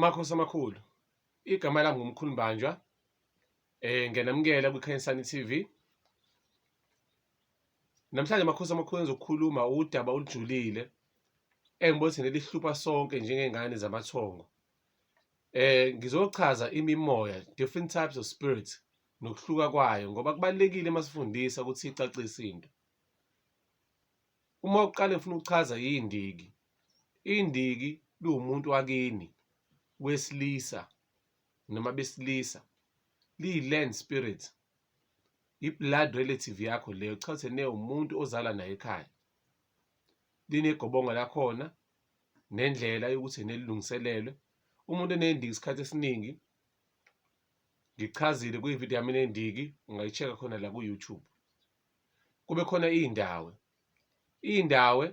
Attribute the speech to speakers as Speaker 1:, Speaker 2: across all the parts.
Speaker 1: Makhosi amakhulu igama lami ngumkhulu Mbanjwa eh ngiyanamukela kwiKhanyisani TV Namhlanje makhosi amakhulu ezokukhuluma udaba olujulile engibona ukuthi nelihlupha sonke njengengane zamathongo eh ngizochaza imimoya different types of spirits nokuhluka kwayo ngoba kubalekile masifundisa ukuthi icacise into uma uqale ufuna ukuchaza yindiki Indiki liwumuntu wakini wesilisa noma besilisa liyi-land spirit i-blood relative yakho leyo cha ukuthi newumuntu ozala naye ekhaya linegobongo lakhona nendlela yokuthi nelilungiselelwe umuntu enendiki isikhathi esiningi ngichazile kwividiyo yami enendiki ungayi-check-a khona la ku-YouTube. kube khona iy'ndawe iy'ndawe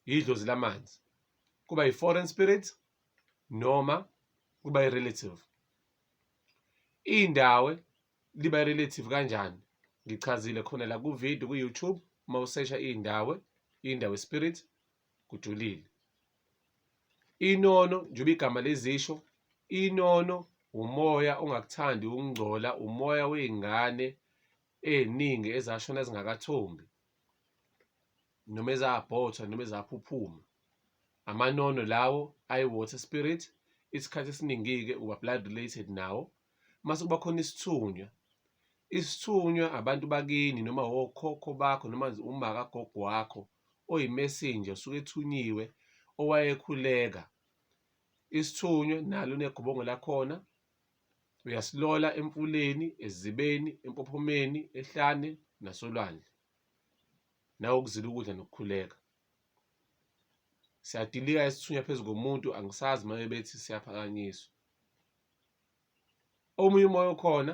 Speaker 1: yidlozi lamanzi kuba yi-foreign spirit noma kuba i-relative iy'ndawe liba i-relative kanjani ngichazile khona la kuvidiyo ku-youtube uma usesha iy'ndawe iy'ndawe spirit kujulile inono njengoba igama lezisho inono umoya ongakuthandi ukungcola umoya wey'ngane ey'ningi ezashona zingakathombi noma ezabhothwa noma ezaphuphuma amanono lawo ayi-water spirit isikhathi esiningi-ke uba blood related nawo mase kuba khona isithunywa isithunywa abantu bakini noma wokhokho bakho noma umaka gogo wakho oyimesinja usuke ethunyiwe owayekhuleka isithunywa nalo negobongo lakhona Uyasilola emfuleni, ezibeni, empophomeni, ehlane nasolwandle. Nawe ukuzila ukudla nokukhuleka. Siyadilika isithunywa phezu komuntu angisazi uma bebethi siyaphakanyiswa. Omunye umoya okhona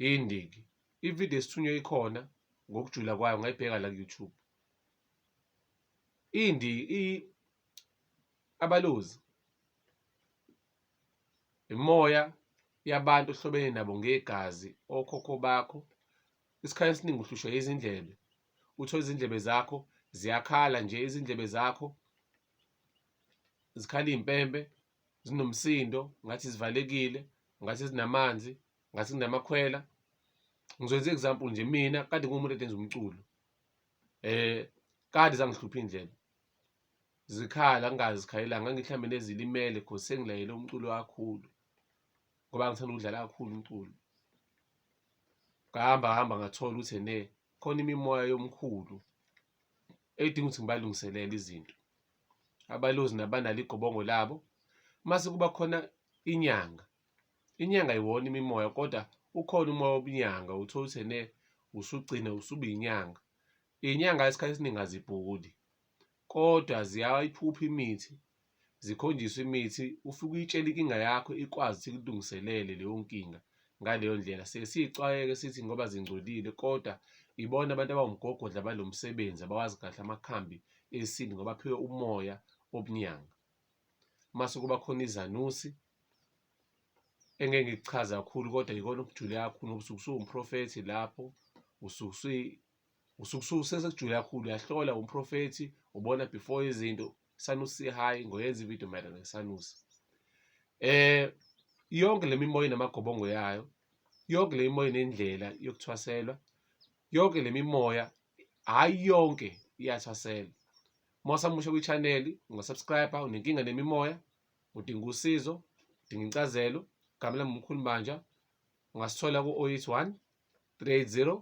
Speaker 1: indiki. Ividiyo esithunywa ikhona ngokujula kwayo ngayibheka la ku-YouTube. Indi abalozi Imimoya yabantu ohlobene nabo ngegazi, okhokho bakho. Isikhathi esiningi uhlushwa izindlebe, uthole izindlebe zakho ziyakhala nje, izindlebe zakho zikhala iy'mpempe, zinomsindo ngathi zivalekile, ngathi zinamanzi, ngathi kunamakhwela. Ngizokwenza i-example nje, mina kade ngiwumuntu enza umculo kade zangihlupha iy'ndlebe. zikhala angazi zikhalela ngani mhlawumbe nezilimele cause sengilayele umculo kakhulu ngoba ngithanda ukudlala kakhulu umculo ngahamba hamba ngathola ukuthi ene khona imimoya yomkhulu edinga ukuthi ngibalungiselele izinto abalozi nabanalo igobongo labo mase kuba khona inyanga inyanga iwona imimoya kodwa ukhona umoya wobunyanga uthola ukuthi ene usugcine usuba inyanga inyanga isikhathi esiningi azibhuli Kodwa ziyayiphupha imithi, zikhonjiswe imithi ufike uyitshele inkinga yakho ikwazi ukuthi ikulungiselele leyo nkinga ngaleyo ndlela. Siye siy'xwayeke sithi ngoba zingcolile kodwa ibona abantu abawumgogodla balo msebenzi abawazi kahle amakhambi esintu ngoba aphiwe umoya obunyanga. Mase kuba khona izanusi engeke ngikuchaze kakhulu kodwa yikona okujule kakhulu ngoba usuke usuwumprofethi lapho usuke usukususesejule kakhulu uyahlola umprofethi ubona before izinto sanusi sihayi ngoyenza ividiyo mayelana nesanusi eh yonke le mimoya inamagobongo yayo yonke le mimoya inendlela yokuthwaselwa yonke le mimoya hhayi yonke iyathwasela uma usamusha kwichaneli ungasubscribe-a unenkinga nemimoya udinga usizo udinga incazelo gamela mumkhulu manja ungasithola ku-081 380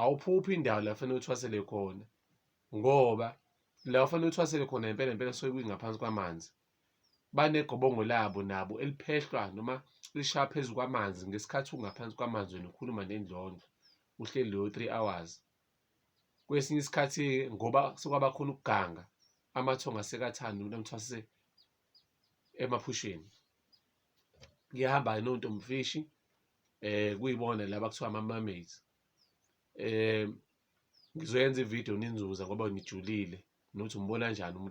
Speaker 1: awuphuphi indawo la fanele uthwasele khona ngoba la ufanele uthwasele khona impela impela suke kwingaphansi kwamanzi banegobongo labo nabo eliphehlwa noma lishaya phezu kwamanzi ngesikhathi ungaphansi kwamanzi wena ukhuluma nendlondlo uhleli leyo three hours kwesinye isikhathi ngoba sekwabakhona ukuganga amathongo asekathanda umuntu amthwase emaphusheni ngiyahamba ke nontomfishi eh kuyibona laba kuthiwa ama mermaids eh ngizoyenza ivideo ninzuza ngoba nijulile nothi umbona kanjani umuntu